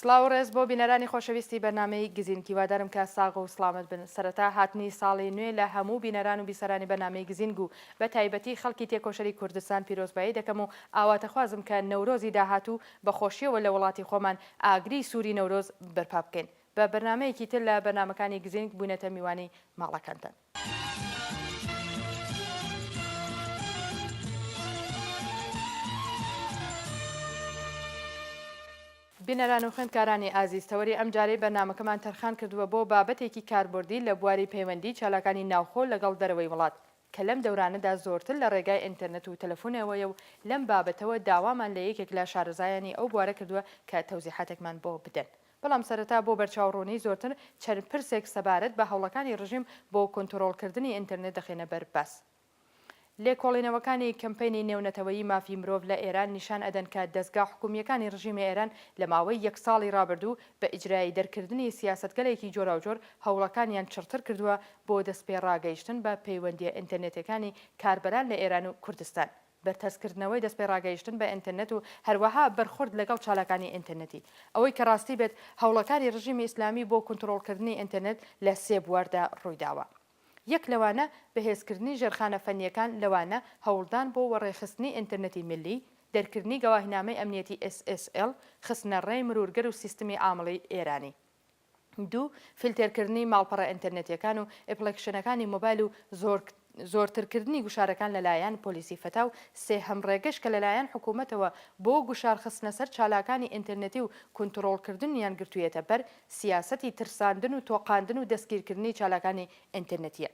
سڵاو و ڕێز بۆ بینەرانی خۆشەویستی بەرنامەی گزینک هیوادارم کە ساغ و سڵامەت بن سەرەتا هاتنی ساڵی نوێ لە هەموو بینەران و بیسەرانی بەرنامەی گزینگ و بە تایبەتی خەڵکی تێکۆشەری کوردستان پیرۆزبایی دەکەم و ئاواتەخوازم کە نەورۆزی داهاتوو بە خۆشیەوە لە وڵاتی خۆمان ئاگری سوری نەورۆز بەرپا بکەین بە بەرنامەیەکی تر لە بەرنامەکانی گزینگ بوینەتە میوانی ماڵەکانتان. بینەران و خوێندکارانی ئازیز تەوەری ئەم جارەی بەرنامەکەمان تەرخان کردووە بۆ بابەتێکی کاربردی لە بواری پەیوەندی چالاکانی ناوخۆ لەگەڵ دەرەوەی وڵات کە لەم دەورانەدا زۆرتر لە ڕێگای ئینتەرنت و تەلەفونەوەیە و لەم بابەتەوە داوامان لە یەکێک لە شارەزایانی ئەو بوارە کردووە کە تەوزیحاتێکمان بۆ بدەن بەڵام سەرەتا بۆ بەرچاوڕوونی زۆرتر چەند پرسێک سەبارەت بە هەوڵەکانی ڕژیم بۆ کۆنترۆڵکردنی ئینتەرنێت دەخەینە بەر باس. لێکۆڵینەوەکانی کەمپەینی نێونەتەوەیی مافی مرۆڤ لە ئێران نیشان ئەدەن کە دەزگا حکومییەکانی ڕژیمی ئێران لە ماوەی یەک ساڵی ڕابردوو بە ئیجرایی دەرکردنی سیاسەتگەلێکی جۆراوجۆر هەوڵەکانیان چڕتر کردووە بۆ دەستپێڕاگەیشتن بە پەیوەندییە ئینتەرنێتیەکانی کاربەران لە ئێران و کوردستان. بەرتەسککردنەوەی دەستپێڕاگەیشتن بە ئینترنت و هەروەها بەرخورد لەگەڵ چالاکانی ئینترنتی. ئەوەی کە ڕاستی بێت هەوڵەکانی ڕژیمی ئیسلامی بۆ کونتڕۆڵکردنی ئینترنت لە سێ بواردا ڕوویداوە. یەک لەوانە بەهێزکردنی ژێرخانە فەنییەکان لەوانە هەوڵدان بۆ وەڕێخستنی ئینترنتی میللی، دەرکردنی گەواهینامەی ئەمنیەتی SSL، خستنەڕێی مرورگەر و سیستمی عامڵی ئێرانی. دوو فیلتێرکردنی ماڵپەڕە ئینتەرنێتیەکان و ئپڵێکشنەکانی مۆبایل و زۆر زۆرترکردنی گوشارەکان لەلایەن پۆلیسی فەتا و سێ هەم ڕێگەش کە لەلایەن حکوومەتەوە بۆ گوشار خستنە سەر چالاکانی ئینتەرنێتی و کونتڕۆڵکردنیان گرتوویەتە بەر سیاسەتی ترساندن و تۆقاندن و دەستگیرکردنی چالاکانی ئینتەرنێتیە.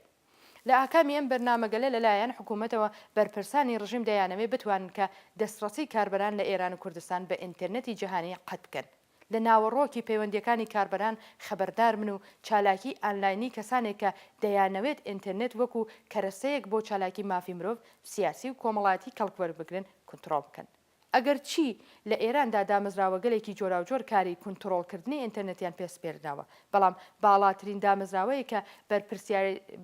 لە ئاکامی ئەم بەرنامەگەلە لەلایەن حکوومەتەوە بەرپرسانی ڕژیم دەیانەوێ بتوانن کە دەستڕەسی کاربەران لە ئێران و کوردستان بە ئینتەرنێتی جەهانی قەت بکەن. لە ناوەڕۆکی پەیوەندییەکانی کاربەران خەبەردار بن و چالاکیی ئانلاینی کەسانێک کە دەیانەوێت ئینترنێت وەکو کەرەسەیەک بۆ چالاکی مافی مرۆڤ، سیاسی و کۆمەڵایەتی کەڵک وەربگرن کونتڕۆڵ بکەن. ئەگەرچی لە ئێراندا دامەزراوەگەلێکی جۆراوجۆر کاری کونتڕۆڵکردنی ئینترنێتیان پێ سپێردراوە، بەڵام باڵاترین دامەزراوەیەک کە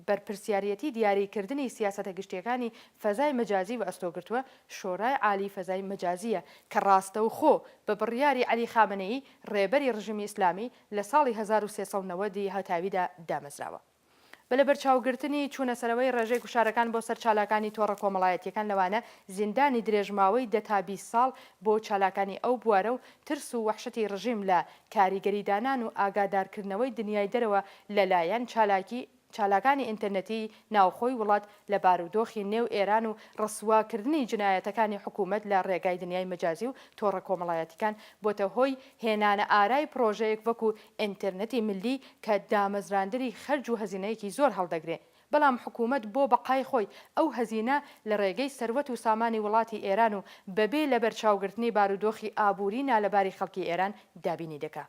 بەرپرسیاریەتی دیاریکردنی سیاسەتە گشتییەکانی فەزای مەجازی وەئەستۆ گرتووە، شۆرای عالیی فەزای مەجازییە کە ڕاستەوخۆ بە بڕیاری عەلی خامەنەیی ڕێبەری ڕژیمی ئیسلامی لە ساڵی هەزار و سێ سەد و نەوەد ی هەتاویدا دامەزراوە بە لەبەرچاوگرتنی چوونەسەرەوەی ڕێژەی گوشارەکان بۆ سەر چالاکانی تۆڕە کۆمەڵایەتییەکان لەوانە زیندانی درێژماوەی دە تا بیست ساڵ بۆ چالاکانی ئەو بوارە و ترس و وەحشەتی ڕژیم لە کاریگەریدانان و ئاگادارکردنەوەی دنیای دەرەوە لەلایەن چالاکی چالاکانی ئینتەرنێتیی ناوخۆی وڵات لە بارودۆخی نێو ئێران و ڕسوا کردنی جنایەتەکانی حکوومەت لە ڕێگای دنیای مەجازی و تۆڕە کۆمەڵایەتیکان بۆتە هۆی هێنانە ئارای پڕۆژەیەک وەکوو ئینتەرنێتی ملی کە دامەزراندنی خەرج و هەزینەیەکی زۆر هەڵدەگرێ بەڵام حکوومەت بۆ بەقای خۆی ئەو هەزینە لە ڕێگەی سەروەت و سامانی وڵاتی ئێران و بەبێ لەبەرچاوگرتنی بارودۆخی ئابووری نالەباری خەڵکی ئێران دابینی دەکا.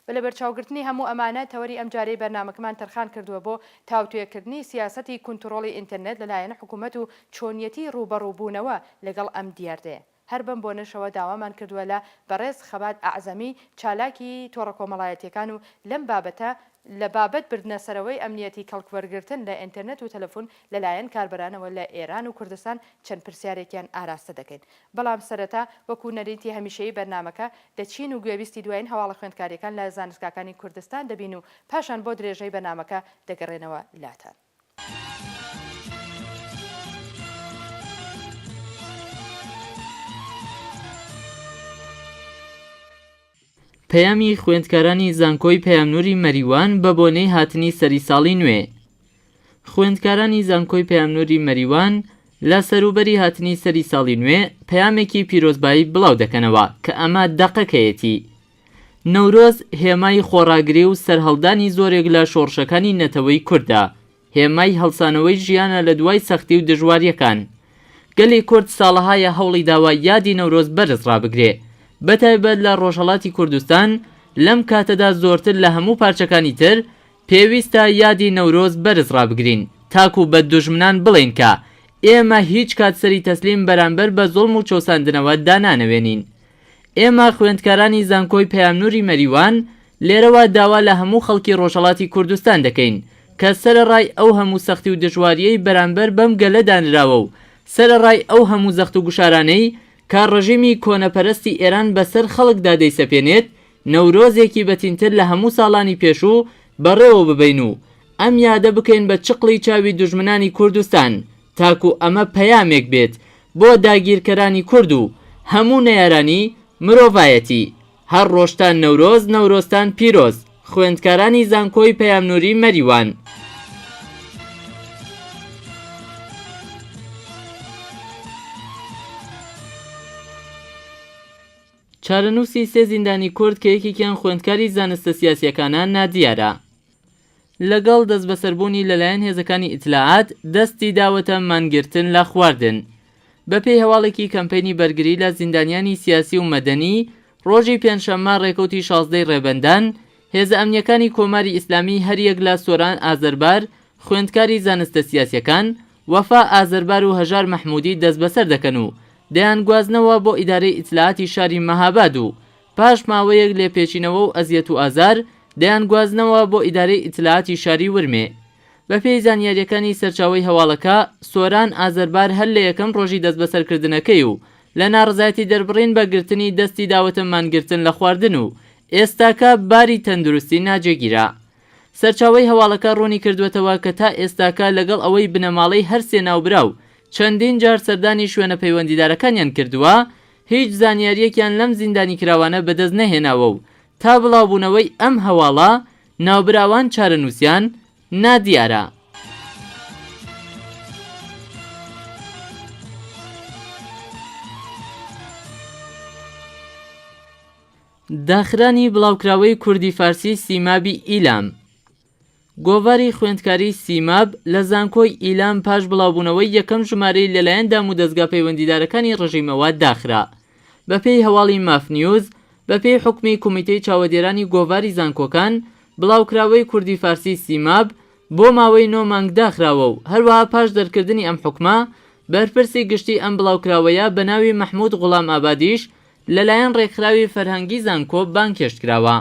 بە لەبەرچاوگرتنی هەموو ئەمانە، تەوەری ئەمجارەی بەرنامەکەمان تەرخان کردووە بۆ تاوتوێکردنی سیاسەتی کونتڕۆڵی ئینتەرنێت لەلایەن حکوومەت و چۆنیەتی ڕووبەڕووبوونەوە لەگەڵ ئەم دیاردەیە. هەر بەم بۆنەشەوە داوامان کردووە لە بەڕێز خەبات ئەعزەمی، چالاکی تۆڕە کۆمەڵایەتییەکان و لەم بابەتە، لە بابەت بردنە سەرەوەی ئەمنیەتی کەڵکوەرگرتن لە ئینتەرنێت و تەلەفون لەلایەن کاربەرانەوە لە ئێران و کوردستان چەند پرسیارێکیان ئاراستە دەکەین. بەڵام سەرەتا وەکو نەریتی هەمیشەیی بەرنامەکە دەچین و گوێبیستی دوایین هەواڵە خوێندکاریەکان لە زانستگاکانی کوردستان دەبین و پاشان بۆ درێژەی بەرنامەکە دەگەڕێنەوە لاتان. پەیامی خوێندکارانی زانکۆی پەیامنوری مەریوان بە بۆنەی هاتنی سەری ساڵی نوێ خوێندکارانی زانکۆی پەیامنوری مەریوان لە سەروبەری هاتنی سەری ساڵی نوێ پەیامێکی پیرۆزبایی بڵاو دەکەنەوە کە ئەمە دەقەکەیەتی نەورۆز هێمای خۆڕاگری و سەرهەڵدانی زۆرێک لە شۆڕشەکانی نەتەوەی کوردە هێمای هەڵسانەوەی ژیانە لە دوای سەختی و دژواریەکان. گەلی کورد ساڵەهایە هەوڵی داوە یادی نەورۆز بەرز ڕابگرێ، بەتایبەت لە ڕۆژهەڵاتی کوردستان لەم کاتەدا زۆرتر لە هەموو پارچەکانی تر پێویستە یادی نەورۆز بەرز ڕابگرین تاکو بە دوژمنان بڵێین کە ئێمە هیچ کات سەری تەسلیم بەرامبەر بە زوڵم و چەوساندنەوە دانانەوێنین. ئێمە خوێندکارانی زانکۆی پەیامنوری مەریوان لێرەوە داوا لە هەموو خەڵکی ڕۆژهەڵاتی کوردستان دەکەین کە سەرەڕای ئەو هەموو سەختی و دژواریەی بەرامبەر بەم گەلە دانراوە و سەرەڕای ئەو هەموو زەخت و گوشارانەی کە ڕژیمی کۆنەپەرستی ئێران بەسەر خەڵکدا دەیسەپێنێت نەورۆزێکی بەتینتر لە هەموو ساڵانی پێشوو بەڕێوەببەین و ئەم یادە بکەین بە چقڵی چاوی دوژمنانی کوردستان تاکو ئەمە پەیامێک بێت بۆ داگیرکەرانی کورد و هەموو نەیارانی مرۆڤایەتی. هەر ڕۆژتان نەورۆز نەورۆزتان پیرۆز خوێندکارانی زانکۆی پەیام نوری مەریوان. چارەنووسی سێ زیندانی کورد کە یەکێکیان خوێندکاری زانستە سیاسییەکانە نادیارە. لەگەڵ دەستبەسەربوونی لەلایەن هێزەکانی ئیتلاعات، دەستی داوەتە مانگرتن لە خواردن. بەپێی هەواڵێکی کەمپەینی بەرگری لە زیندانیانی سیاسی و مەدەنی، ڕۆژی پێنجشەممە ڕێکەوتی شازدە ی ڕێبەندان، هێزە ئەمنییەکانی کۆماری ئیسلامی هەریەک لە سۆران ئازەربار خوێندکاری زانستە سیاسیەکان، وەفا ئازەربار و هەژار مەحمودی دەستبەسەر دەکەن و دەیانگوازنەوە بۆ ئیدارەی ئیتلاعاتی شاری مەهاباد و پاش ماوەیەک لێپێچینەوە و ئەزیەت و ئازار، دەیانگوازنەوە بۆ ئیدارەی ئیتلاعاتی شاری ورمێ. بەپێی زانیارییەکانی سەرچاوەی هەواڵەکە، سۆران ئازەربار هەر لە یەکەم ڕۆژی دەستبەسەرکردنەکەی و لە ناڕەزایەتی دەربڕین بە گرتنی دەستی داوەتە مانگرتن لە خواردن و ئێستاکە باری تەندروستی ناجێگیرە. سەرچاوەی هەواڵەکە ڕوونی کردووەتەوە کە تا ئێستاکە لەگەڵ ئەوەی بنەماڵەی هەر سێ ناوبراو چەندین جار سەردانی شوێنە پەیوەندیدارەکانیان کردووە، هیچ زانیارییەکیان لەم زیندانیکراوانە بەدەست نەهێناوە و تا بڵاوبوونەوەی ئەم هەواڵە، ناوبراوان چارەنووسیان نادیارە. داخرانی بڵاوکراوەی کوردی-فارسی سیمابی ئیلام. گۆڤاری خوێندکاری سیماب لە زانکۆی ئیلام پاش بڵاوبوونەوەی یەکەم ژمارەی لەلایەن دام و دەزگا پەیوەندیدارەکانی ڕژیمەوە داخرا. بەپێی هەواڵی ماف نیوز، بەپێی حوکمی کومیتەی چاوەدێرانی گۆڤاری زانکۆکان، بڵاوکراوەی کوردی فارسی سیماب بۆ ماوەی نۆ مانگ داخراوە و هەروەها پاش دەرکردنی ئەم حوکمە، بەرپرسی گشتی ئەم بڵاوکراوەیە بەناوی مەحمود غوڵام ئابادیش لەلایەن ڕێکخراوی فەرهەنگی زانکۆ بانگهێشت کراوە.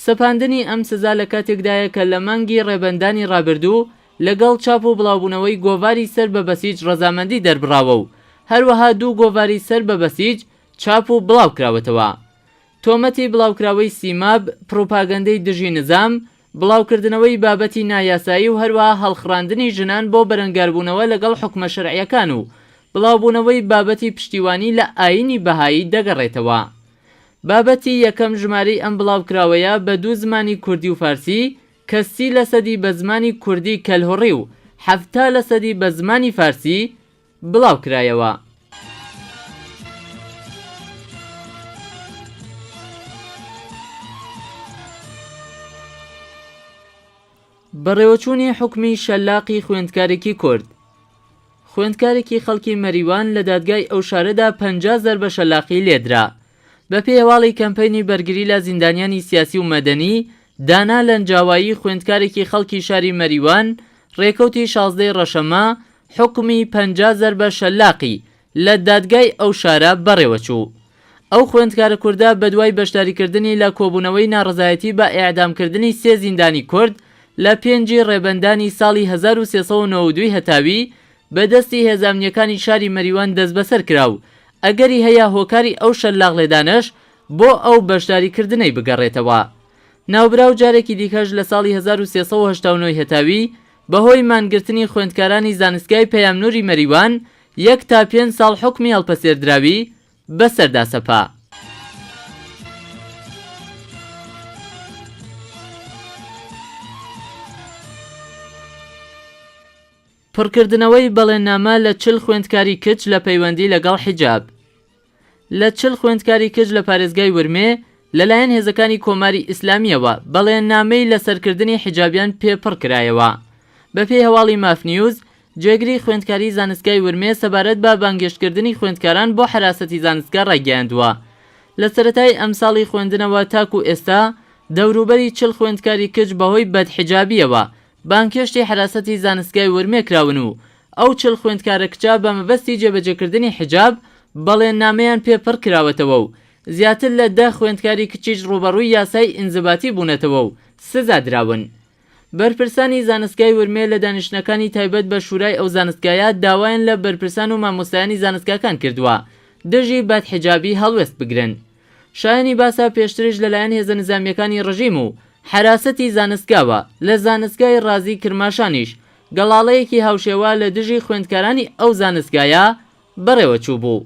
سەپاندنی ئەم سزا لە کاتێکدایە کە لە مانگی ڕێبەندانی ڕابردوو لەگەڵ چاپ و بڵاوبوونەوەی گۆڤاری سەر بە بەسیج ڕەزامەندی دەربڕاوە و هەروەها دوو گۆڤاری سەر بە بەسیج چاپ و بڵاوکراوەتەوە. تۆمەتی بڵاوکراوەی سیماب، پڕوپاگەندەی دژی نزام، بڵاوکردنەوەی بابەتی نایاسایی و هەروەها هەڵخڕاندنی ژنان بۆ بەرەنگاربوونەوە لەگەڵ حوکمە شەرعییەکان و بڵاوبوونەوەی بابەتی پشتیوانی لە ئایینی بەهایی دەگەڕێتەوە. بابەتی یەکەم ژمارەی ئەم بڵاوکراوەیە بە دوو زمانی کوردی و فارسی کە سی لەسەدی بە زمانی کوردی کەلهوڕی و حەفتا لەسەدی بە زمانی فارسی بڵاوکرایەوە. بەڕێوەچوونی حوکمی شەلاقی خوێندکارێکی کورد خوێندکارێکی خەڵکی مەریوان لە دادگای ئەو شارەدا پەنجا زەربە شەلاقی لێدرا بەپێی هەواڵی کەمپەینی بەرگری لە زیندانیانی سیاسی و مەدەنی، دانا لەنجاوایی خوێندکارێکی خەڵکی شاری مەریوان، رێکەوتی شازدە ی رەشەمە، حوکمی پەنجا زەربە شەلاقی لە دادگای ئەو شارە بەڕێوەچوو. ئەو خوێندکارە کوردە بەدوای بەشداریکردنی لە کۆبوونەوەی ناڕەزایەتی بە ئێعدامکردنی سێ زیندانی کورد لە پێنج ی رێبەندانی ساڵی هەزار و سێ سەد و نەوە و دوو هەتاوی بە دەستی هێزە ئەمنییەکانی شاری مەریوان دەستبەسەر کرا و ئەگەری هەیە هۆکاری ئەو شەلاقلێدانەش بۆ ئەو بەشداریکردنەی بگەڕێتەوە. ناوبراو جارێکی دیکەش لە ساڵی هەزار و سێ سەد و هەشتا و نۆ ی هەتاوی بە هۆی مانگرتنی خوێندکارانی زانستگای پەیامنووری مەریوان یەک تا پێنج ساڵ حوکمی هەڵپەسێردراوی بە سەردا سەپا. پڕکردنەوەی بەڵێننامە لە چل خوێندکاری کچ لە پەیوەندی لەگەڵ حیجاب لە چل خوێندکاری کچ لە پارێزگای ورمێ لەلایەن هێزەکانی کۆماری ئیسلامییەوە بەڵێننامەی لەسەرکردنی حیجابیان پێ پڕ کرایەوە. بەپێی هەواڵی ماف نیوز، جێگری خوێندکاری زانستگای ورمێ سەبارەت بە بانگێشتکردنی خوێندکاران بۆ حەراسەتی زانستگە ڕایگەیاندووە، لە سەرەتای ئەمساڵی خوێندنەوە تاکوو ئێستا دەوروبەری چل خوێندکاری کچ بەهۆی بەدحیجابییەوە بانگهێشتی حەراسەتی زانستگای ورمێ کراون و ئەو چل خوێندکارە کچە بە مەبەستی جێبەجێکردنی حیجاب بەڵێننامەیان پێ پڕ کراوەتەوە و زیاتر لە دە خوێندکاری کچیش ڕووبەڕووی یاسای ئینزباتی بوونەتەوە و سزا دراون. بەرپرسانی زانستگای ورمێ لە دانیشتنەکانی تایبەت بە شورای ئەو زانستگایە داوایان لە بەرپرسان و مامۆستایانی زانستگاکان کردووە دژی بەدحیجابی هەڵوێست بگرن. شایەنی باسە پێشتریش لەلایەن هێزە نزامییەکانی ڕژیم و حەراسەتی زانستگاوە لە زانستگای ڕازی کرماشانیش گەڵاڵەیەکی هاوشێوە لە دژی خوێندکارانی ئەو زانستگایە بەڕێوە چووبوو.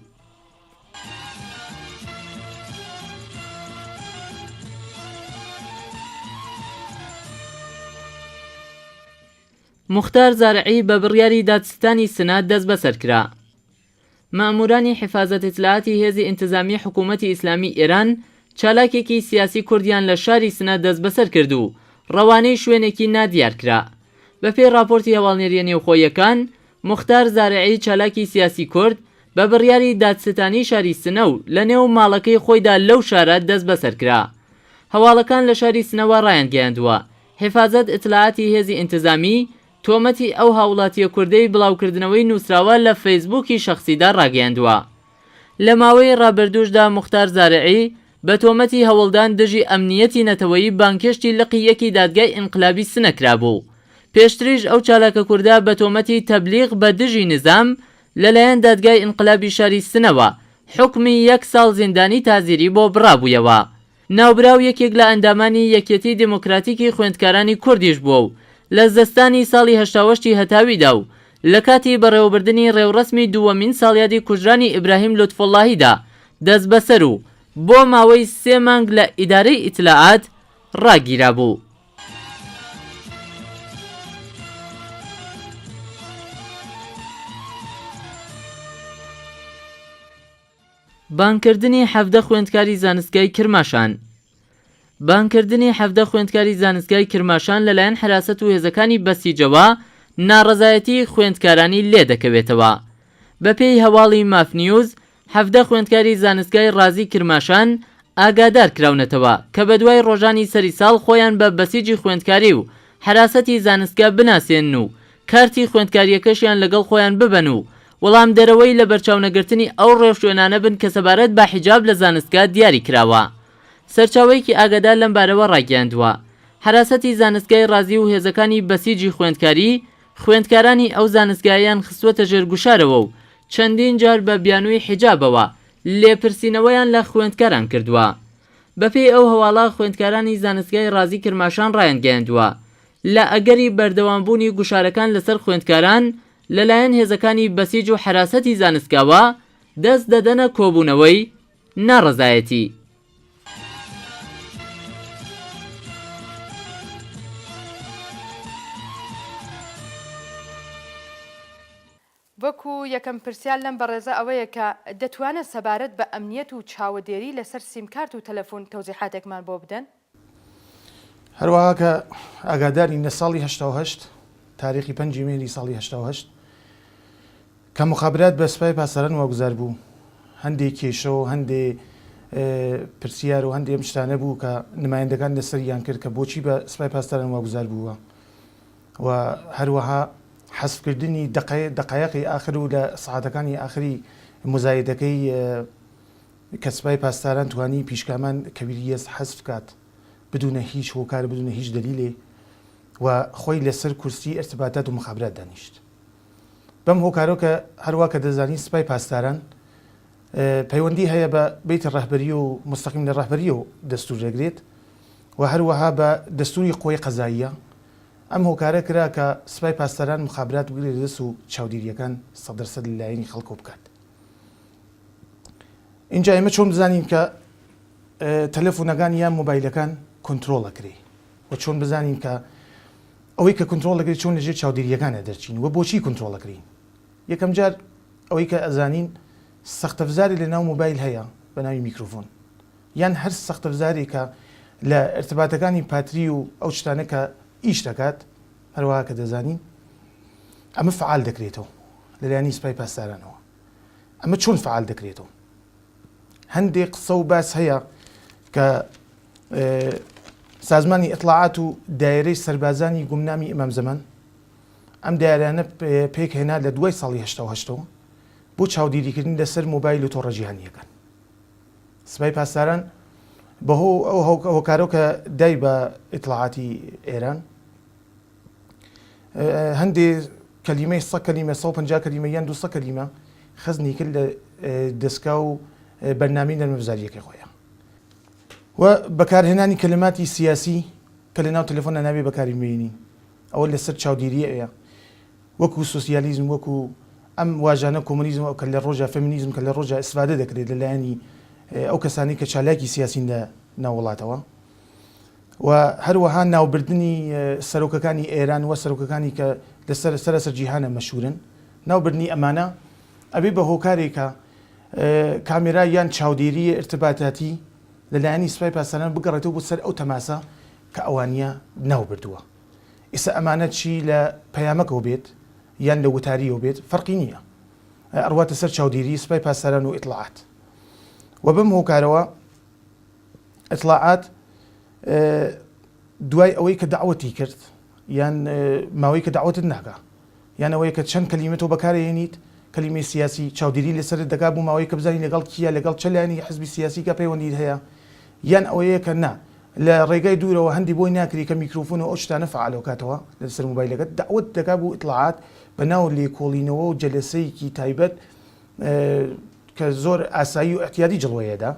موختار زارعی بە بڕیاری دادستانی سنە دەستبەسەر کرا. مەئموورانی حیفازەت ئیتلاعاتی هێزی ئینتزامیی حکوومەتی ئیسلامیی ئێران چالاکێکی سیاسی کوردیان لە شاری سنە دەسبەسەر کرد و ڕەوانەی شوێنێکی نادیار کرا. بە پێی ڕاپۆرتی هەواڵنێرییە نێوخۆییەکان، موختار زارعی چالاکی سیاسی کورد بە بڕیاری دادستانی شاری سنە و لە نێو ماڵەکەی خۆیدا لەو شارە دەسبەسەر کرا. هەواڵەکان لە شاری سنەوە ڕایانگەیاندووە، حیفازەت ئیتلاعاتی هێزی ئینتزامیی تۆمەتی ئەو هاوڵاتییە کوردەی بڵاوکردنەوەی نووسراوە لە فەیسبووکی شەخسیدا ڕاگەیاندووە. لە ماوەی ڕابردووشدا موختار زارعی بە تۆمەتی هەوڵدان دژی ئەمنییەتی نەتەوەیی بانگهێشتی لقی یەکی دادگای ئینقلابی سنە کرابوو. پێشتریش ئەو چالاکە کوردە بە تۆمەتی تەبلیغ بە دژی نیزام لەلایەن دادگای ئینقلابی شاری سنەوە حوکمی یەک ساڵ زیندانی تازیری بۆ بڕابوویەوە. ناوبراو یەکێک لە ئەندامانی یەکیەتیی دێمۆکراتیکی خوێندکارانی کوردیش بووە و لە زستانی ساڵی هەشتا وەشتی هەتاویدا و لە کاتی بەڕێوەبردنی ڕێوڕەسمی دووەمین ساڵیادی کوژرانی ئیبراهیم لوتفوڵڵاهیدا دەسبەسەر و بۆ ماوەی سێ مانگ لە ئیدارەی ئیتلاعات ڕاگیرابوو. بانگکردنی حەڤدە خوێندکاری زانستگای کرماشان بانگکردنی حەڤدە خوێندکاری زانستگای کرماشان لەلایەن حەراسەت و هێزەکانی بەسیجەوە ناڕەزایەتی خوێندکارانی لێدەکەوێتەوە. بەپێی هەواڵی ماف نیوز، حەڤدە خوێندکاری زانستگای ڕازی کرماشان ئاگادارکراونەتەوە کە بەدوای ڕۆژانی سەری ساڵ خۆیان بە بەسیجی خوێندکاری و حەراسەتی زانستگا بناسێنن و کارتی خوێندکارییەکەشیان لەگەڵ خۆیان ببەن و وەڵامدەرەوەی لەبەرچاونەگرتنی ئەو ڕێوشوێنانە بن کە سەبارەت بە حیجاب لە زانستگا دیاری کراوە. سەرچاوەیەکی ئاگادار لەم بارەوە ڕایگەیاندووە، حەراسەتی زانستگای ڕازی و هێزەکانی بەسیجی خوێندکاری، خوێندکارانی ئەو زانستگایەیان خستووەتە ژێر گوشارەوە و چەندین جار بە بیانووی حیجابەوە لێپرسینەوەیان لە خوێندکاران کردووە. بەپێی ئەو هەواڵە، خوێندکارانی زانستگای ڕازی کرماشان ڕایانگەیاندووە، لە ئەگەری بەردەوامبوونی گوشارەکان لەسەر خوێندکاران، لەلایەن هێزەکانی بەسیج و حەراسەتی زانستگاوە دەست دەدەنە کۆبوونەوەی ناڕەزایەتی. وەکو یەکەم پرسیار لەم بەڕێزە ئەوەیە کە دەتوانن سەبارەت بە ئەمنیەت و چاوەدێری لەسەر سیمکارت و تەلەفون تەوزیحاتێکمان بۆ بدەن؟ هەروەها کە ئاگادارین لە ساڵی هەشتا و هەشت تاریخی پەنجی مێری ساڵی هەشتا و هەشت کە مخابرات بە سپای پاسەران واگوزار بوو هەندێک کێشە و هەندێ پرسیار و هەندێ ئەم شتانە بوو کە نمایندەکان لەسەریان کرد کە بۆچی بە سپای پاسداران واگوزار بووە و هەروەها حەسبکردنی دقەیەقی ئاخر و لە سعاتەکانی ئاخری مزایدەکەی کە سپای پاسداران توانی پیشکامان کبیر یز حذف کات بدون هیچ هۆکار بدون هیچ دلیلێ و خۆی لە سەر کورسی ارتباطات و مخابرات دانیشت بەم هۆکارەوە کە هەروا کە دەزانین سپای پاسداران پەیوەندی هەیە بە بیتی رەهبەری و مستەقیم لە رەهبەریەو دەستور دەگرێت و هەروەها بە دەستوری قوەی قەزاییە ئەم هۆکارە کرا کە سپای پاسداران مخابرات بگرێتە دەست و چاودێریەکان سەد دەر سەد لە لایەنی خەڵکەوە بکات. ئینجا ئێمە چۆن بزانین کە تەلەفونەکان یان مۆبایلەکان کۆنتترۆڵ ئەکری و چۆن بزانین کە ئەوەی کە کۆنتترۆڵ ئەکری چۆن لەژێر چاودێریەکانە دەرچین و بۆچی کۆنتترۆڵ ئەکرین یەکەم جار ئەوەی کە ئەزانین سەختەفزاری لە ناو مۆبایل هەیە بە ناوی میکروفۆن یان هەر سەختەفزاری کە لە ارتباتەکانی پاتری و ئەو شتانە کە ئیش دەکات هەروەها کە دەزانین ئەمە فعال دەکرێتەوە لەلایانی سپای پاسدارانەوە ئەمە چۆن فعال دەکرێتەوە هەندێک قسە و باس هەیە کە سازمانی ئەتلاعات و دایرەی سربازانی گومنامی ئەمام زەمان ئەم دایرانە پێک هێنا لە دوای ساڵی هەشتەوە بۆ چاودێریکردن لەسەر مۆبایل و تۆڕە جیهانیەکان سپای پاسداران بەهۆ ئەو هۆکارەوە کە دای بە ئیتلاعاتی ئێران هەندێ کەلیمەی سە کەلیمە سە پنج کەلیمە یان دوسە کەلیمە خزنی کرد لە دەستکا و بەرنامی نەرمەبزاریەکە خۆیان و بەکارهێنانی کەلماتی سیاسی کە لە ناو تەلەفۆن ناوێ بەکاری مێنی ئەوە لەسەر چاودێریە ئەیە وەکو سوسیالیزم وەکو ئەم واژانە کۆمونیزم ئەو کە لە ڕۆژە فەمینیزم کە لە ڕۆژە ئیسفادە دەکرێت لەلایەنی ئەو کەسانی کە چالاکی سیاسین لە ناوڵاتەوە و هەروەها ناوبردنی سەرۆکەکانی ئێران و سەرۆکەکانی کە لەسەر سەرەسەر جیهانە مەشهورن ناوبردنی ئەمانە ئەبێ بە هۆکارێکە کامێرا یان چاودێریە ارتباتاتی لەلایەنی سوپای پاسداران بگەڕێتەوە بۆ سەر ئەو تەماسە کە ئەوانە ناو بردووە ئیسە ئەمانە چی لە پەیامەکەەوە بێت یان لە وتاریەوە بێت فەرقی نییە ئەڕواتە سەر چاودێری سوپای پاسداران و ئیتلاعات و بەم هۆکارەوە ئیتڵاعات دوای ئەوەی کە دەعوەتی کرد یان ماوەی کە دەعوەتت ناکا یان ئەوەیە کە چەند کەلیمە تۆ بەکارەهێنیت کەلیمەی سیاسی چاودێری لەسەرت دەکا بۆ ماوەی کە بزانی لەگەڵ کییە لەگەڵ چ لایەنێکی حزبی سیاسیکە پەیوەندیت هەیە یان ئەوەیە کە نا لە ڕێگای دوورەوە هەندی بۆی ناکری کە میکروفۆن و ئەو شتانە فعال بکاتەوە لەسەر موبایلەکەت دەعوەت دەکا بۆ ئیتڵاعات بە ناو لێکۆڵینەوە و جەلەسەیەکی تایبەت کە زۆر ئاسایی و اعتیادی جڵوەیەدا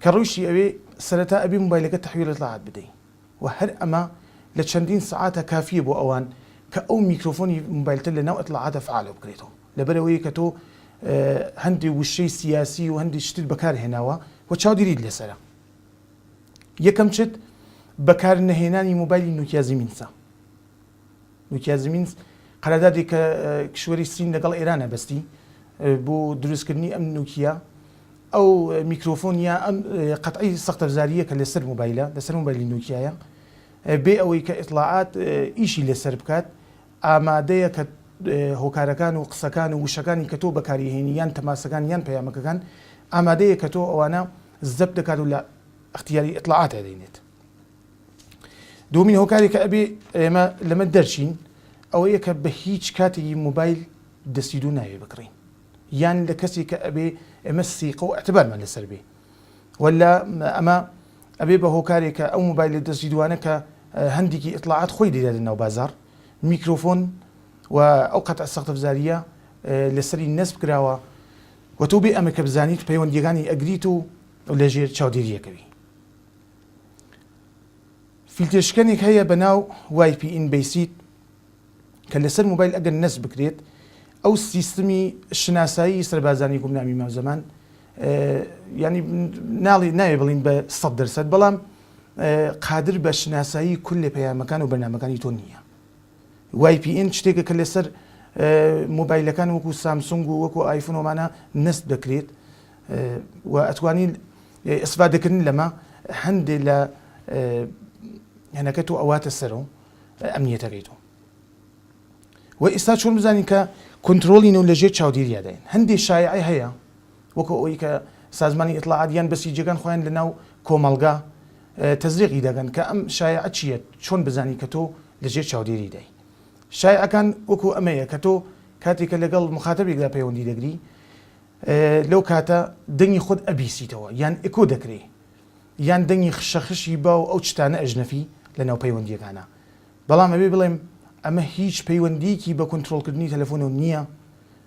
کە ڕۆیشتی ئەوێ سەرەتا ئەبێ موبایلەکەت تەحویل اطلاعات بدەی و هەر ئەمە لە چەندین سەعاتە کافیە بۆ ئەوان کە ئەو میکرۆفۆنی موبایلتە لە ناو اطلاعاتە فعالە بکرێتەوە لەبەر ئەوەی کە تۆ هەندێ وشەی سیاسی و هەندێ شتت بەکار هێناوە و چاودیریت لەسەرە یەکەم چت بەکار نەهێنانی موبایلی نوکیا زیمینسە. نوکیازمینسک، قەراردادێک کە کیشوەری سین لەگەڵ ئێرانە بەستی بۆ دروستکردنی ئەم نوکیە ئەو میکرۆفۆن یا ئەم قەتعی سەختەفزارییە کە لەسەر مۆبایلە لەسەر مۆبایلی نوکیایە بێ ئەوەی کە ئیتڵاعات ئیشی لەسەر بکات ئامادەیە کە هۆکارەکان و قسەکان و وشەکانی کە تۆ بەکاریهێنی یان تەماسەکان یان پەیامەکەکان ئامادەیە کە تۆ ئەوانە زەپ دەکات و لە اختیاری ئیتڵاعاتە دەینێت. دومین هۆکارێکە ئەبێ ئێمە لەمە دەرچین ئەوەیە کە بە هیچ کاتێکی موبایل دەستی دوو ناوێ بکڕین یان لە کەسێک کە ئەبێ ئێمە سیقە و ئەتبارمان لەسەر بێ ولا ئەمە ئەبێ بە هۆکارێکە ئەو موبایل لە دەستی دوانە کە هەندێکی ئیتلاعات خۆی دیدا لە ناو بازار میکرۆفۆن و ئەو قەتە سەختەفزاریە لەسەری نەسب کراوە وە تۆ بێ ئەمە کە بزانیت پەیوەندیەکانی ئەگریت و لەژێر چاودێریەکەوی فیلتێشکەنێک هەیە بە ناو وایپی ئین بەیسیت کە لەسەر موبایل ئەگەر نەس بکرێت ئەو سیستمی شناسایی سەربازانی گومنامی ماوزەمان ینی ناڵی ناوێ بڵین بە سە دەرسەد بەڵام قادر بە شناسایی کل لە پەیامەکان و بەنامەکانی تۆ نییە وای پی ئین شتێکە کە لەسەر مۆبایلەکان وەکو سامسونگ و وەکو ئایفون وەمانە نەست دەکرێت و ئەتوانی ئیسفادەکردن لەمە هەندێک لە هەنەکە تۆ ئەواتە سەرەوە ئەمنیەتەکەی تۆ و ئێستا چۆن بزانین کە کنترۆلی نەو لەژێر چاودێریاداین هەندێک شایعی هەیە وەکو ئەوی کە سازمانی ئیطلاعات یان بەسیجەکان خۆیان لە ناو کۆمەڵگا تەزریقی دەکەن کە ئەم شایعە چییە چۆن بزانین کە تۆ لە ژێر چاودێریدای شایعەکان وەکو ئەمەیە کە تۆ کاتێک کە لەگەڵ مخاتەبێکدا پەیوەندی دەگری لەو کاتە دەنگی خۆت ئەبیسیتەوە یان ئکۆ دەکرێ یان دەنگی خشەخشی با و ئەو چتانە ئەژنەفی لە ناو پەیوەندیەکانە بەڵام ئەبێ بڵێم ئەمە هیچ پەیوەندیکی بە کۆنترۆڵکردنی تەلەفۆنەوە نییە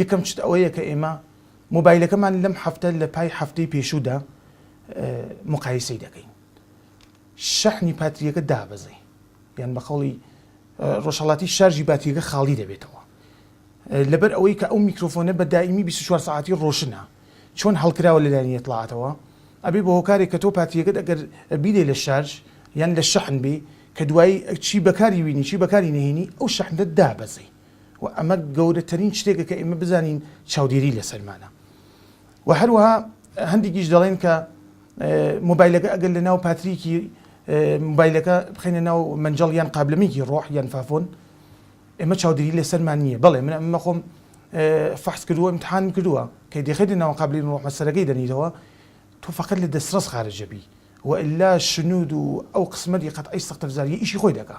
یەکەم شت ئەوەیە کە ئێمە مۆبایلەکەمان لەم هەفتە لە پای هەفتەی پێشوودا مقایسەی دەکەین شەحنی پاتریەکە دابەزی یان بە قەڵی ڕۆژهڵاتی شارژی باتیەکە خاڵی دەبێتەوە لەبەر ئەوەی کە ئەو میکرۆفۆنە بە دایمی 24 ساعتی ڕۆشنە چۆن هەڵکراوە لەلایەنی اطلاعاتەوە ئەبێ بە هۆکارێک کە تۆ پاتریەکەت ئەگەر بیدەی لە شارژ یان لە شەحن بی کە دوایی چی بەکاری وینی چی بەکاری نهێنی ئەو شەحنت دابەزی و ئەمە گەورەترین شتێکە کە ئێمە بزانین چاودێری لەسەرمانە و هەروەها هەندێکیش دەڵێن کە مۆبایلەکە ئەگەر لە ناو پاتریکی مۆبایلەکە بخینە ناو منجڵ یان قابلمیکی ڕۆح یان فافۆن ئێمە چاودێری لەسەرمان نییە بەڵێ من ئەمە خۆم فحس کردووە امتحان کردووە کە دەخێتە ناو قابلی ڕۆحمە سەرەکەی دەنیتەوە تۆ فقط لە دەسرەس خارجەبی وئلا شنود و ئەو قسمەتی قەت ئەی سەختەفزاری ئیشی خۆی دەکە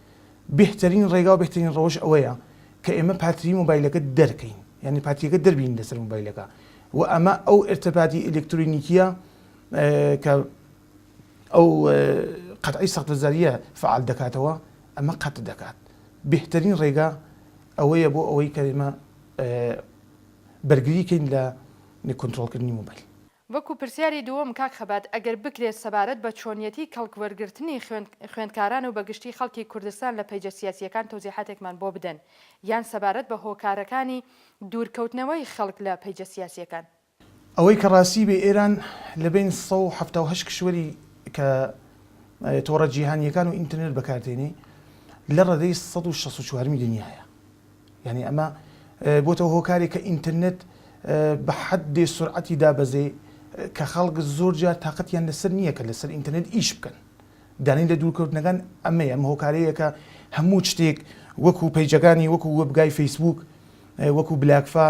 بێهتەرین ڕێگا و بێهتەرین ڕەوش ئەوەیە کە ئێمە پاتریی مۆبایلەکە دەرکەین یانی پاتیەکە دەربین لەسەر مۆبایلەکە و ئەمە ئەو ئێرتەباتی ئێلێکترۆنیکیە کە ئەو قەتعی سەقفزاریە فعال دەکاتەوە ئەمە قەت دەکات بێهتەرین ڕێگا ئەوەیە بۆ ئەوەی کە ئێمە بەرگری کەین لە کۆنتترۆلکردنی مۆبایل وەکو پرسیاری دووەم کاک خەبات ئەگەر بکرێت سەبارەت بە چۆنیەتی کەڵک وەرگرتنی خوێند خوێندکاران و بەگشتی خەڵکی کوردستان لە پەیجە سیاسیەکان تەوزیحاتێکمان بۆ بدەن یان سەبارەت بە هۆکارەکانی دوور کەوتنەوەی خەڵک لە پەیجە سیاسیەکان. ئەوەی کە ڕاستی بێ ئێران لە بەین سەد و حەفتا و هەشت کشوەری کە تۆڕە جیهانیەکان و ئینتەرنێت بەکار دێنێ لە ڕەدەی سەد و شەست و چوارمی دنیایە یانی ئەمە بۆتە هۆکارێک کە ئینترنێت بە حەدێ سورعەتی دابەزێ کە خەڵک زۆر جار تاقەتیان لەسەر نییە کە لەسەر ئینترنێت ئیش بکەن. دانی لە دوورکەوتنەکان ئەمەیە، ئەمە هۆکارەیە کە هەموو شتێک وەکوو پەیجەکانی وەکوو وێبگای فەیسبووک، وەکوو بلاکفا،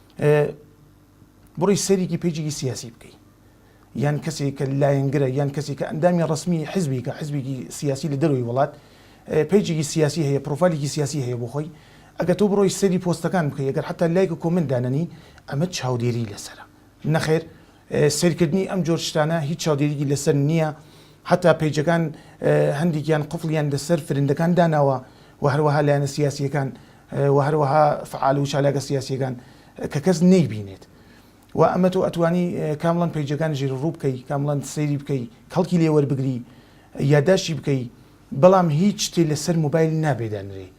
بڕی سەرێکی پێجێکی سیاسی بکەی یان کەسێک کە لایەنگرە یان کەسێک کە ئەندامی ڕسمی حزبیکە حزبێکی سیاسی لە دەروی وڵات پێجێکی سیاسی هەیە پرۆفالیکی سیاسی هەیە بۆ خۆی ئەگە تۆ بڕۆی سەری پۆستەکان بکەی ئەگەر حتا لایک و کۆمنت دانەنی ئەمە چاودێری لەسرە نەخێر سەیرکردنی ئەم جۆر شتانە هیچ چاودێریکی لەسەر نیە حەتا پەیجەکان هەندێکیان قفڵیان لەسەر فرندەکان داناوە وە هەروەها لایەنە سیاسیەکان وە هەروەها فعال و چالاکە سیاسیەکان کە کەس نەیبینێت وە ئەمە تۆ ئەتوانی کامڵان پەیجەکان ژیر ڕوو بکەی کامڵان سەیری بکەی کەڵکی لێ وەربگری یاداشتی بکەی بەڵام هیچ شتێ لەسەر موبایل نابێ دانرێی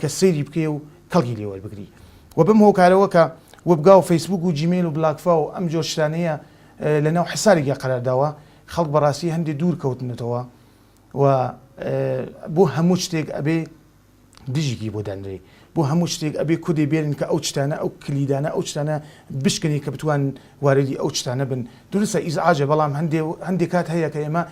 کە سەیری بکەی و کەڵکی لێ وەربگری و بەم هۆکارەوە کە وبگا و فەیسبووک و جیمێل و بلاکفا و ئەم جۆر شتانەیە لە ناو حەسابێکیا قەرار داوە خەڵک بە ڕاستی هەندێ دوور کەوتنەتەوە و بۆ هەموو شتێک ئەبێ دژیکی بۆ دانرێ بۆ هەموو شتێک ئەبێ کودێ بێرن کە ئەو شتانە ئەو کلیدانە ئەو شتانە بشکنی کە بتوان واردی ئەو شتانە بن دروستە ئیزعاجە بەڵام هەندێ هەندێک کات هەیە کە ئێمە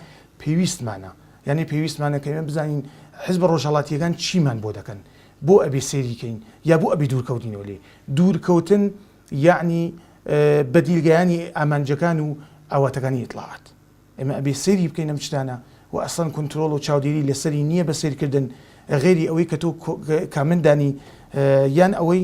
پێویستمانە یانی پێویستمانە کە ئێمە بزانین حزبە ڕۆژهەڵاتییەکان چیمان بۆ دەکەن، بۆ ئەبێ سەیری کەین یا بۆ ئەبێ دوورکەوتینەوە لێی، دوورکەوتن یانی بەدیل گەیانی ئامانجەکان و ئاواتەکانی ئیتڵاعات. ئێمە ئەبێ سەیری بکەین ئەم شتانە و ئەسڵەن کونترۆڵ و چاودێری لە سەری نییە بە سەیرکردن غەیری ئەوەی کە تۆ کامنت دانی یان ئەوەی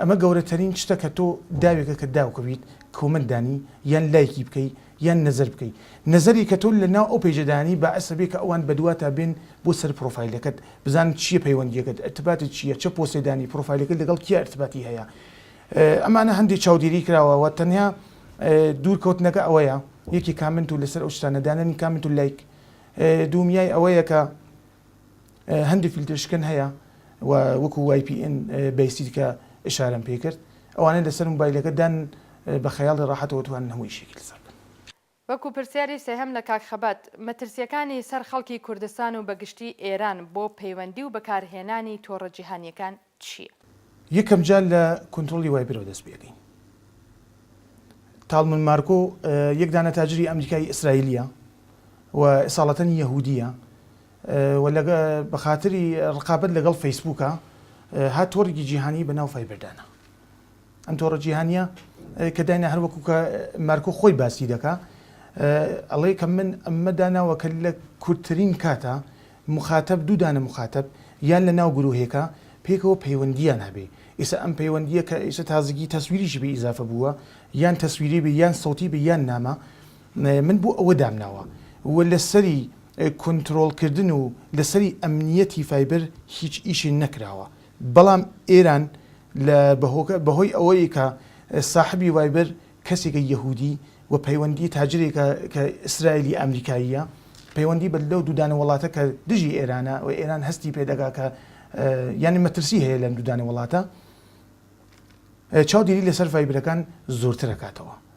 ئەمە گەورەتەرین شتە کە تۆ داوێکە کە داوکەویت کۆمێنت دانی یان لایکی بکەی یان نەزەر بکەی نەزەری کە تۆ لە ناو ئەو پەیجە دانی بەعس ئەبێ کە ئەوان بەدواتا بێن بۆ سەر پرۆفایلەکەت بزانن چیە پەیوەندیەکەت ئەرتباطت چیە چە پۆستێ دانی پرۆفایلەکەت لەگەڵ کیا ئەرتباطی هەیە ئەمانە هەندێ چاودێری کراوە وە تەنیا دوور کەوتنەکە ئەوەیە یەکێ کامنت و لەسەر ئەو شتانە دانانی کامنت و لایک دوومیای ئەوەیە کە هەندێک فیلترشکن هەیە و وەکو وای پی ئین بەیسید کە ئشارەم پێ کرد ئەوانەی لەسەر موبایلەکە دان بە خەیاڵی ڕاحەتەوە توانن هەموو ئیشێکی لەسەر بکەن. وەکو پرسیاری سێهەم لە کاک خەبات، مەترسییەکانی سەر خەڵکی کوردستان و بەگشتی ئێران بۆ پەیوەندی و بەکارهێنانی تۆڕە جیهانییەکان؟ چیە؟ یەکەم جار لە کونترۆڵی وایبرەوە دەست پێکەین. تاڵمن مارکۆ یەک دانە تاجری ئەمریکایی ئیسرائیلیە و ئساڵەتەنی یەهودیە و لە بە خاتری ڕقابەت لەگەڵ فەیسبووکە هات تۆڕێکی جیهانی بە ناو فایبەردانە. ئەم تۆڕە جیهانیە کە داینا هەر وەکو کە مارکۆ خۆی باسی دەکا ئەڵێ کە من ئەمە داناوە کە لە کورتترین کاتە مخاتب دوو دانە مخاتب یان لە ناو گرروهێکە پێکەوە پەیوەندیان هەبێ ئیسا ئەم پەیوەندیە کە ئیسە تازگی تەسویریشی بە ئیزافە بووە یان تەسویری بێ یان سەوتی بە یان نامە من بۆ ئەوە دامناوە و لەسەری کنترۆڵکردن و لەسەری ئەمنیەتی فایبەر هیچ ئیشی نەکراوە بەڵام ئێران لە بە هۆی ئەوەی کە ساحبی ڤایبەر کەسێکە یەهودی و پەیوەندی تاجرێکە کە ئیسرایلی ئامریکاییە پەیوەندی بە لەو دوودانە وڵاتە کە دژی ئێرانە و ئێران هەستی پێ دەگا کە یانی مەترسی هەیە لەم دوودانە وڵاتە چاودێری لەسەر ڤایبرەکان زۆرترەکاتەوە.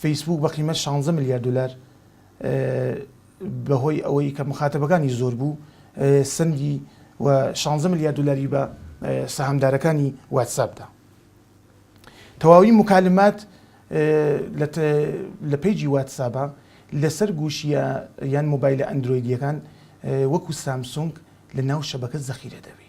فەیسبووک بە قیمەت شانزە ملیار دۆلار بەهۆی ئەوەی کە مخاتەبەکانی زۆر بوو سەندی و شانزە ملیار دۆلاری بە سەهامدارەکانی واتساپ دا. تەواوی موکالمات لە پەیجی واتسابە لەسەر گوشیە یان مۆبایلە ئەندرۆیدیەکان وەکو سامسونگ لە ناو شەبەکە زەخیرە دەبێ.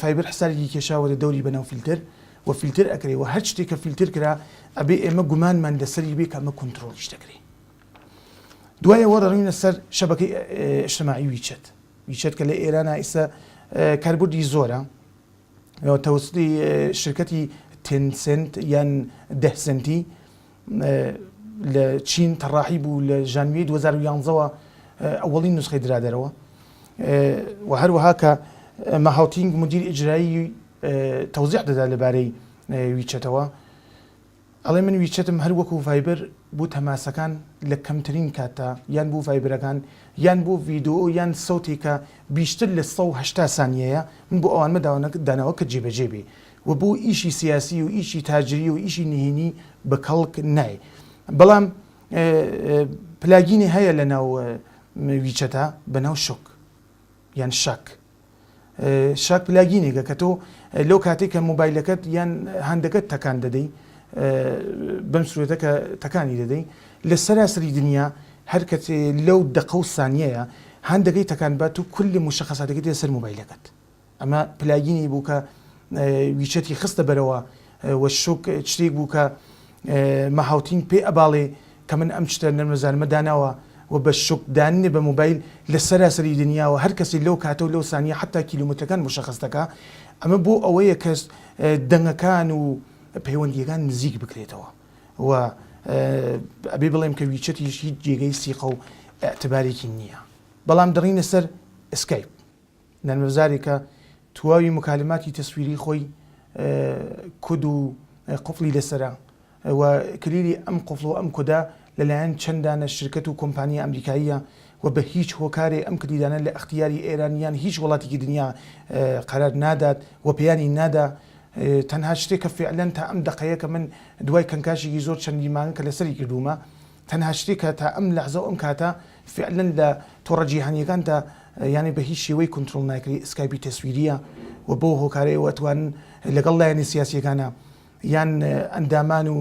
فایبەر حسابێکی کێشاوەتە دەوری بەناو فیلتەر و فیلتەر ئەکرێ و هەر شتێک کە فیلتەر کرا ئەبێ ئێمە گومانمان لەسەری بێ کە ئەمە کۆنترۆڵیش دەکرێ دوای ئەوە دەڕوینە سەر شەبەکەی ئیشتماعی ویچەت ویچەت کە لە ئێرانا ئیستا کاربردی زۆرە تەوستی شرکەتی تێنسنت یان دەهسنتی لە چین تەڕاحی بوو لە ژانویەی دوو هەزار و یانزە وە ئەوەڵین نوسخەی درا دەرەوە وە هەروەها کە ماهاوتینگ مدیر ئیجرایی تەوزیح دەدا لەبارەی ویچەتەوە ئەڵێ من ویچەتم هەر وەکو ڤایبەر بوو تەماسەکان لە کەمترین کاتدا یان بوو ڤایبرەکان یان بوو ڤیدۆ یان سەوتێکە بیشتر لە 180 سانیەیە من بۆ ئەوانمە داوانە داناوە کە جێبەجێ بێ و بۆ ئیشی سیاسی و ئیشی تاجری و ئیشی نهینی بە کەڵک نایێ بەڵام پلاگینی هەیە لە ناو ویچەتا بە ناو شک یان شەک شاک پلاگینێکە کە تۆ لەو کاتێک کە موبایلەکەت یان هەندەکەت تەکان دەدەی بەم سوێتە کە تەکانی دەدەی لە سەراسری دنیا هەر کەسێ لەو دەقە و سانیەیە هەندەکەی تەکان بات و کل مشخصاتەکەی دێ سەر موبایلەکەت ئەمە پلاگینی بوو کە ویچەتی خستە بەرەوە و شوک چتێک بوو کە مە هاوتین پێ ئەباڵێ کە من ئەم چتە نەرمەزانمە داناوە و بە شوک داننێ بە مۆبایل لە سەراسەری دنیا و هەر کەسێ لەو کاتە و لەو سانیە حەتا کیلۆمەترەکان مشەخەس دەکا ئەمە بۆ ئەوەیە کە دەنگەکان و پەیوەندیەکان نزیک بکرێتەوە و ئەبێ بڵێم کە ویچەتیش هیچ جێگەی سیقە و ئەتبارێکی نییە بەڵام دڕینە سەر ئسکایپ نەرمەفزاری کە تواوی موکالماتی تەسویری خۆی کود و قفڵی لەسەرە و کلیلی ئەم قفڵ و ئەم کودە لەلایەن چەندانە شرکەت و کۆمپانیا ئەمریکاییە و بە هیچ هۆکارێ ئەم کلیلانە لە ئەختیاری ئێران یان هیچ وڵاتێکی دنیا قەرار نادات و پێیانی نادا تەنها شتێک کە فعلەن تا ئەم دەقەیە کە من دوای کەنکاشێکی زۆر چەندی مانگە کە لەسەری کردوومە تەنها شتێک کە تا ئەم لەحزە و ئەم کاتە فیعلەن لە تۆڕە جیهانییەکان دا یانەی بە هیچ شێوەی کونترۆڵ ناکری ئسکایپی تەسویرییە و بەو هۆکارەیەوە ئەتوانن لەگەڵ لایەنە سیاسییەکانە یان ئەندامان و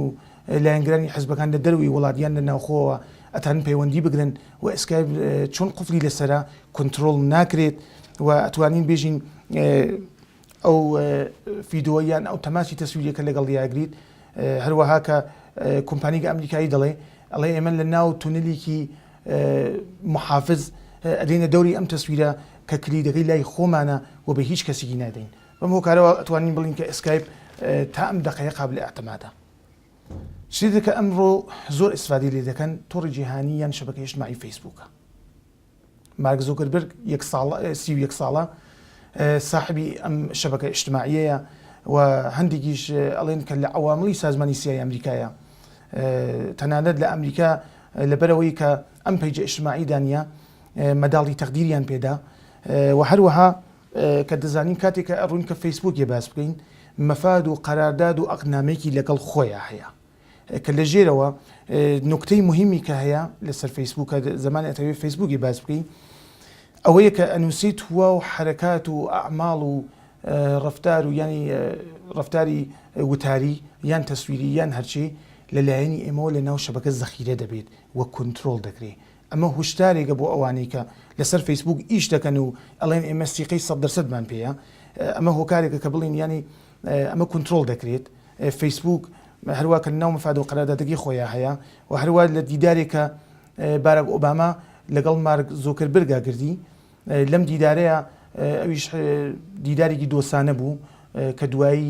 لایەنگرانی حزبەکان لە دەرەوەی وڵات یان لە ناوخۆوە ئەتانن پەیوەندی بگرن و ئسکایپ چۆن قفلی لەسەرە کونترۆڵ ناکرێت و ئەتوانین بێژین ئەو فیدۆ یان ئەو تەماسی تەسویریەکە لەگەڵ دیاگریت هەروەها کە کۆمپانیگە ئەمریکایی دەڵێ ئەڵێ ئێمە لە ناو تونلیکی محافز ئەدەینە دەوری ئەم تەسویرە کە کلیدەکەی لای خۆمانە و بە هیچ کەسیگی نادەین بەم هۆکارەوە ئەتوانین بڵین کە ئسکایپ تا ئەم دەقەیە قابل ئەعتمادە شتێکە ئەمڕۆ زۆر ئیسفادی لێ دەکەن تۆڕی جیهانی یان شەبەکە ئیشتماعی فەیسبووکە مارک زوکربرگ یەک ساڵە سی و یەک ساڵە ساحبی ئەم شەبەکە ئیشتماعیەیە و هەندێکیش ئەڵێن کە لە عواملی سازمانی سیای ئەمریکایە تەنانەت لە ئەمریکا لەبەرەوەی کە ئەم پەیجە ئیشتماعی دانە مەداڵی تەقدیریان پێدا و هەروەها کە دەزانین کاتێکە ڕوون کە فەیسبووکێ باس بکەین مەفاد و قەرارداد و ئەقنامێکی لەگەڵ خۆیان هەیە کە لە ژێرەوە نوکتەی موهیمی کە هەیە لەسەر فەیسبووک کە زەمانی ئەتەوێت فەیسبووکی باس بکەین ئەوەیە کە ئەنووسیت هوا و حەرەکات و ئەعماڵ و ڕەفتار و یانی ڕەفتاری وتاری یان تەسویری یان هەرچی لە لایەنی ئێمەوە لە ناو شەبەکە زەخیرە دەبێت و کونترۆڵ دەکرێت ئەمە هوشدارێکە بۆ ئەوانەی کە لەسەر فەیسبووک ئیش دەکەن و ئەڵێن ئێمە سیقەی سەد دەر سەدمان پێیە ئەمە هۆکارێکە کە بڵێن یانی ئەمە کونترۆڵ دەکرێت فەیسبووک هەروە کە ناو مفاد و قەرادادەکەی خۆیان هەیە و هەروە لە دیدارێکە بارەک ئۆباما لەگەڵ مارک زۆکر برگا گردی لەم دیدارەیە ئەویش دیدارێکی دۆسانە بوو کە دوایی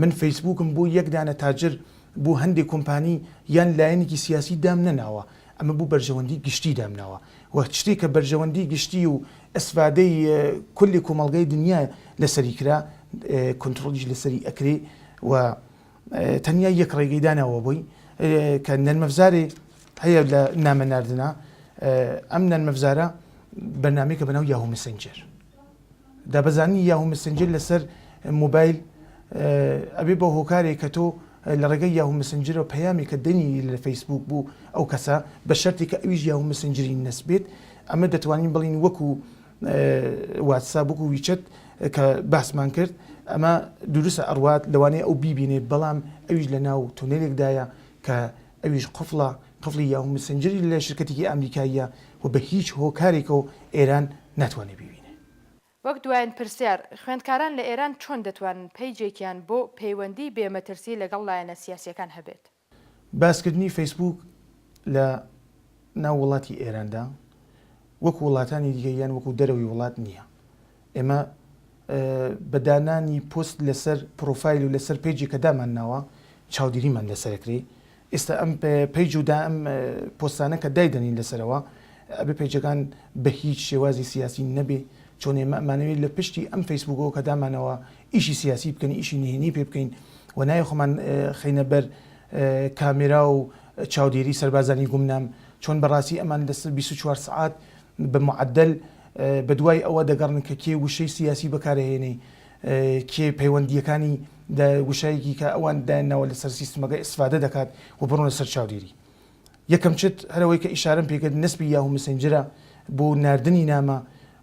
من فەیسبوکم بۆ یەک دانە تاجر بۆ هەندێ کۆمپانی یان لایەنێکی سیاسی دام نەناوە ئەمە بۆ بەرژەوەندی گشتی دام ناوە و شتێک کە بەرژەوەندی گشتی و ئەسفادەی کلی کۆمەڵگای دنیا لەسەری کرا کۆنترۆڵیش لەسەری ئەکرێ و تەنیا یەک ڕێگەی داناوە بۆی کە نەرمەفزارێ هەیە لە نامە ناردنا ئەم نەرمەفزارە بەرنمەیەکە بەناو یاهو مسنجەر دابەزاندنی یاهو مسنجر لەسەر مۆبایل ئەبێ بە هۆکارێک کە تۆ لە ڕێگەی یاهو مسنجرەوە پەیامێکە دەنێری لە فەیسبووک بۆ ئەو کەسە بە شەرتێک کە ئەویش یاهو مسنجری نەسبێت ئەمە دەتوانین بڵێین وەکو واتساب وەکو ویچەت کە باسمان کرد ئەمە دروستە ئەڕوات لەوانەیە ئەو بیبینێت بەڵام ئەویش لە ناو تونێلێکدایە کە ئەویش قفڵە، قفڵی یاهو مسنجری لە شرکەتێکی ئامریکاییە و بە هیچ هۆکارێکەوە ئێران ناتوانێ بیبینێ. وەک دوایین پرسیار، خوێندکاران لە ئێران چۆن دەتوانن پەیجێکیان بۆ پەیوەندیی بێ مەترسی لەگەڵ لایەنە سیاسییەکان هەبێت؟ باسکردنی فەیسبووک لە ناو وڵاتی ئێراندا وەکو وڵاتانی دیکە یان وەکو دەرەوەی وڵات نییە. ئێمە بە دانانی پۆست لەسەر پرۆفایل و لەسەر پەیجێک کە دامانناوە چاودیریمان لەسەر ئەکرێ ئێستا ئەم پەیج و دا ئەم پۆستانە کە دایدەنین لەسەرەوە ئەبێ پەیجەکان بە هیچ شێوازی سیاسی نەبێ چۆن ئێمە ئەمانەوێت لە پشتی ئەم فەیسبوکەوە کە دامانەوە ئیشی سیاسی بکەن ئیشی نهێنی پێ بکەین و نای خۆمان خەینە بەر کامێرا و چاودێری سەربازانی گومنام چۆن بەڕاستی ئەمان لەسەر 24 سعات بە معەدەل بەدوای ئەوە دەگەڕن کە کێ وشەی سیاسی بەکارئەهێنێی کێ پەیوەندییەکانی دە وشایەکی کە ئەوان دایانناوە لەسەر سیستمەکە ئیسفادە دەکات و بڕۆنە سەر چاودێری یەکەم چت هەر ئەوەی کە ئیشارەم پێکرد نسبی یاهو مسنجرە بۆ ناردنی نامە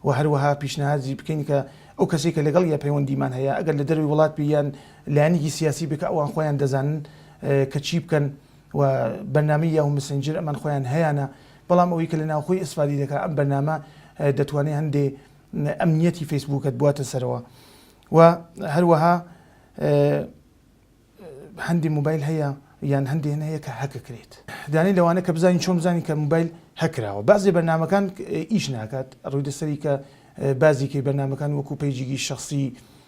و هەروەها پیشنهادی بکەین کە ئەو کەسەی کە لەگەڵ یا پەیوەندیمان هەیە ئەگەر لە دەروی وڵات بی یان لایەنێکی سیاسی بێ کە ئەوان خۆیان دەزانن کە چی بکەن و بەرنامەی یاهو مسنجر ئەمان خۆیان هەیانە بەڵام ئەوەی کە لە ناوخۆی ئیسفادەی دەکا ئەم بەرنامە دەتوانێ هەندێ ئەمنیەتی فەیسبووکەت بواتە سەرەوە و هەروەها هەندی موبایل هەیە یان هەندێ هەیە کە هەکەکرێت دانی لەوانە کە بزانین چۆن بزانین کە موبایل هەکراوە بازێ بەرنمەکان ئیش ناکات ڕووی دەسەری کە بازیکەی بەرنمەکان وەکو پەیجیگی شخصی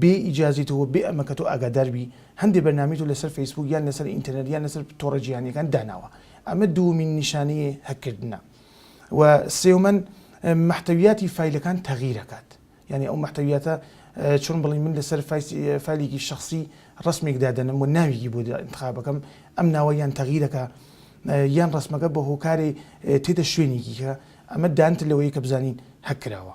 بێ ئیجازەی تۆ و بێ ئەمەکە تۆ ئاگادار بی هەندێ بەرنامەی تۆ لەسەر فەیسبووک یان لەسەر ئینتەرنێت یان لەسەر تۆڕە جیهانیەکان داناوە ئەمە دووەمین نیشانەی هەک کردنە و سێومەن مەحتەویاتی فایلەکان تەغیر ئەکات یانی ئەو مەحتەویاتە چۆن بڵێین من لەسەر فایلێکی شخصی ڕسمێک دادەنم و ناویگی بۆ انتخابەکەم ئەم ناوە یان تەغیرەکە یان ڕسمەکە بە هۆکارێ تێدە شوێنێکیکە ئەمە دانتر لەوەی کە بزانین هەک کراوە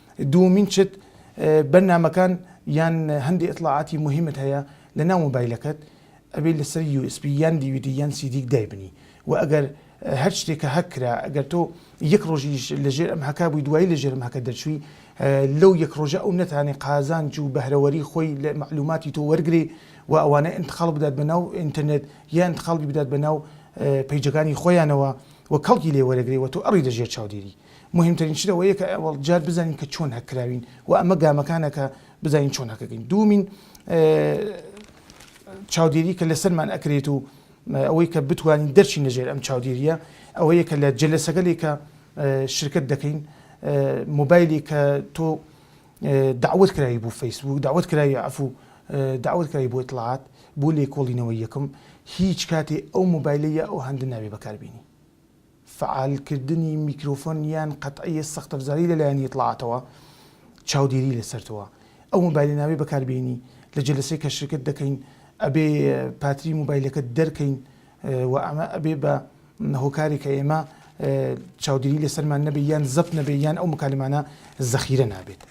دووەمین شت بەرنامەکان یان هەندی ئەتڵاعاتی مهمت هەیە لە ناو مۆبایلەکەت ئەبێ لەسەر USB یان دیویدی یان سیدیک دایبنی و ئەگەر هەر شتێکە هەک کرا ئەگەر تۆ یەک ڕۆژیش لەژێر ئەم هەکا بووی دوایی لەژێر ئەم هەکە دەرچووی لەو یەک ڕۆژە ئەو نەتانێ قازانج و بەهرەوەری خۆی لە معلوماتی تۆ وەرگری و ئەوانە انتقال بدات بە ناو ئینتەرنێت یا انتقالی بدات بە ناو پەیجەکانی خۆیانەوە و کەڵکی لێ وەرەگری و تۆ ئەڕی لەژێر چاودێری مهمترین شت ئەوەیە کە ئەوەڵ جار بزانین کە چۆن هەککراوین و ئەمە گامەکانە کە بزانین چۆن هەکەکەین دومین چاودێری کە لەسەرمان ئەکرێت و ئەوەی کە بتوانین دەرچین لەژێر ئەم چاودێریە ئەوەیە کە لە جلەسەگەلێک کە شرکت دەکەین موبایلی کە تۆ داوت کراوی بوو فەیسبوو داوت کراوی ئەفو داوت کراوی بۆ اطلاعات بۆ لێکۆڵینەوە یەکەم هیچ کاتی ئەو موبایلە یا ئەو هەندە ناوێ بەکاربیێنی فەعالکردنی میکرۆفۆن یان قەتعیە سەختەفزاری لەلایەن یتڵاعاتەوە چاودێری لەسەرتەوە ئەو مۆبایلە نابێ بەکاربێنی لە جەلەسەی کەشرکت دەکەین ئەبێ پاتری مۆبایلەکەت دەرکەین وە ئەمە ئەبێ بە هۆکارێک کە ئێمە چاودێری لەسەرمان نەبێ یان زەبت نەبێ یان ئەو مکالمانە زەخیرە نابێت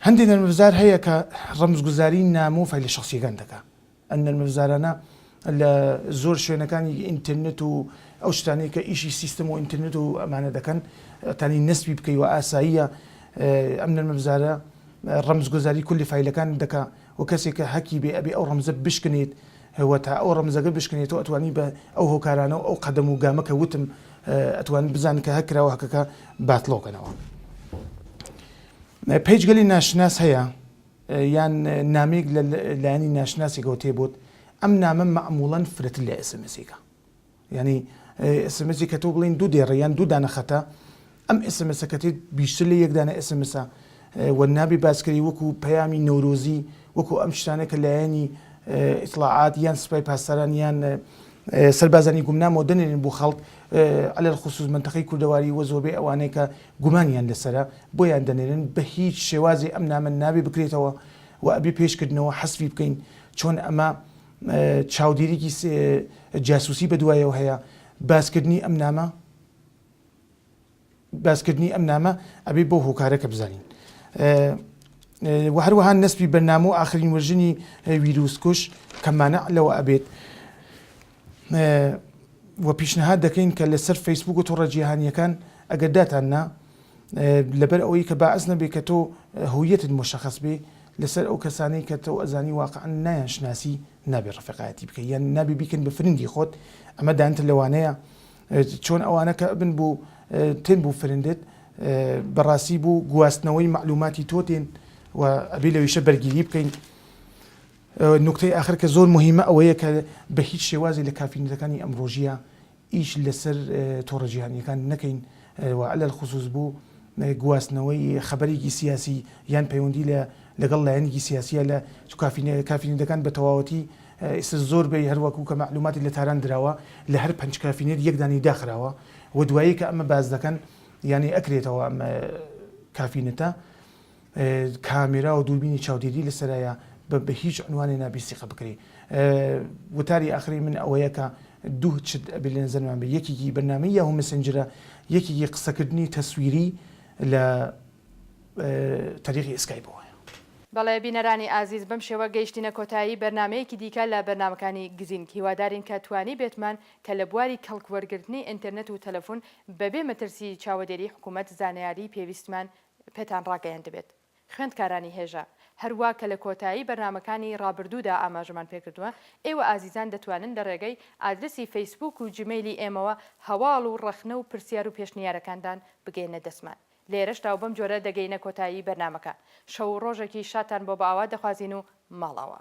هەندێ نەرمەفزار هەیە کە ڕەمزگوزاری نامۆ فایلە شەخسیەکان دەکا ئەم نەرمەفزارانە لە زۆر شوێنەکانی ئینترنت و ئەو شتانەی کە ئیشی سیستم و ئینترنت و ئەمانە دەکەن تانی نەسبی بکەی و ئاساییە ئەم نەرمەفزارە ڕەمز گۆزاری کولی فایلەکان دەکا و کەسێک کە هەکی بێ ئەبێ ئەو ڕەمزە بشکنێت و تا ئەو ڕەمزەگە بشکنێت تۆ ئەتوانی بە ئەو هۆکارانە و ئەو قەدەم و گامە کە وتم ئەتوانی بزانن کە هەک کراوە هەکەکە باتڵۆ کەنەوە. پەیجگەلی ناشناس هەیە یان نامەیەک لە لایەنی ناشناسێکەوە تێ بۆت ئەم نامە مەعموڵەن فرەتر لە ئێسمسێکە یعنی ئێسمسی کە تۆ بڵین دوو دێڕە یان دوو دانە خەتە ئەم ئێسمسەکەتێت بیشتر لە یەکدانە ئێسمسە و نابی باسکری وەکو پەیامی نەورۆزی وەکو ئەم شتانە کە لایەنی ئیسلاعات یان سپای پاسداران یان سەربازانی گومنامەوە دەنێرن بۆ خەڵک ئەلەر خصوص منتەقەی کوردەواری وە زۆربەی ئەوانەیە کە گومانیان لەسەرە بۆیان دەنێرن بەهیچ شێوازێ ئەم نامە نابێ بکرێتەوە و ئەبێ پێش کردنەوە حەسفی بکەین چۆن ئەمە چاودێریی جاسوسی بەدوایەوە هەیە باسکردنی ئەم نامە باسکردنی ئەم نامە ئەبێ بۆ هۆکارەکە بزانین وە هەروەها نەسپی بەرنامە و ئاخرین وەرژنی ویروسکوش کەمانە لەوە ئەبێت وە پیشنهاد دەکەین کە لەسەر فەیسبووک و تۆڕە جیهانیەکان ئەگەر داتان نا لەبەر ئەوەی کە باعس نەبێ کە تۆ هویەتت مشخص بێ لەسەر ئەو کەسانەی کە تۆ ئەزانی واقعا نایان شناسی نابێ ڕفقایەتی بکە یان نابێ بیکەن بە فرنگی خۆت ئەمە دانتە لەوانەیە چۆن ئەوانە کە بن بوو تێن بوو فرندت بەڕاستی بوو گواستنەوەی معلوماتی تۆ تێن و ئەبی لەویشە بەرگیری بکەین نوکتەی ئاخر کە زۆر موهیمە ئەوەیە کە بە هیچ شێوازێ لە کافینەتەکانی ئەمڕۆژییا ئیش لە سەر تۆڕە جیهانییەکان نەکەین و عەلەل خوسوس بۆ گواستنەوەی خەبەرێکی سیاسی یان پەیوەندی لە لەگەڵ لایەنێکی سیاسییا لە کافینە کافینەتەکان بە تەواوەتی ئیستا زۆر بەی هەر وەکوو کە مەعلووماتی لە تاران دراوە لە هەر پەنج کافینێت یەک دانەی داخراوە و دوایی کە ئەمە باس دەکەن یانی ئەکرێتەوە ئەم کافینەتە کامێرا و دووربینی چاودێری لەسەرایە بە بە هیچ عنوانێ نابی سیقە بکرێ وتاری ئاخری من ئەوەیە کە دوو چت ئەبێ لە نەزەرمان بێ یەکێکی بەرنامەی یاهو مەسنجرە یەکێکی قسەکردنی تەسویری لە تەریقی ئێسکایپەوە. بەڵێ بینەرانی ئازیز بەم شێوە گەیشتینە کۆتایی بەرنامەیەکی دیکە لە بەرنامەکانی گزینگ هیوادارین کە توانیبێتمان کە لە بواری کەڵک وەرگرتنی ئینترنت و تەلەفون بەبێ مەترسی چاوەدێری حکومەت زانیاری پێویستمان پێتان ڕاگەیەندبێت خوێندکارانی هێژا، هەروا کە لە کۆتایی بەرنامەکانی ڕابردوودا ئاماژەمان پێکردووە، ئێوە ئازیزان دەتوانن لە ڕێگەی ئادرسی فەیسبووک و جیمەیلی ئێمەوە هەواڵ و ڕەخنە و پرسیار و پێشنیارەکانتان بگەیەننە دەستمان لێرەشدا و بەم جۆرە دەگەینە کۆتایی بەرنامەکە شەو و ڕۆژێکی شادتان بۆ بەئاوات دەخوازین و ماڵئاوا.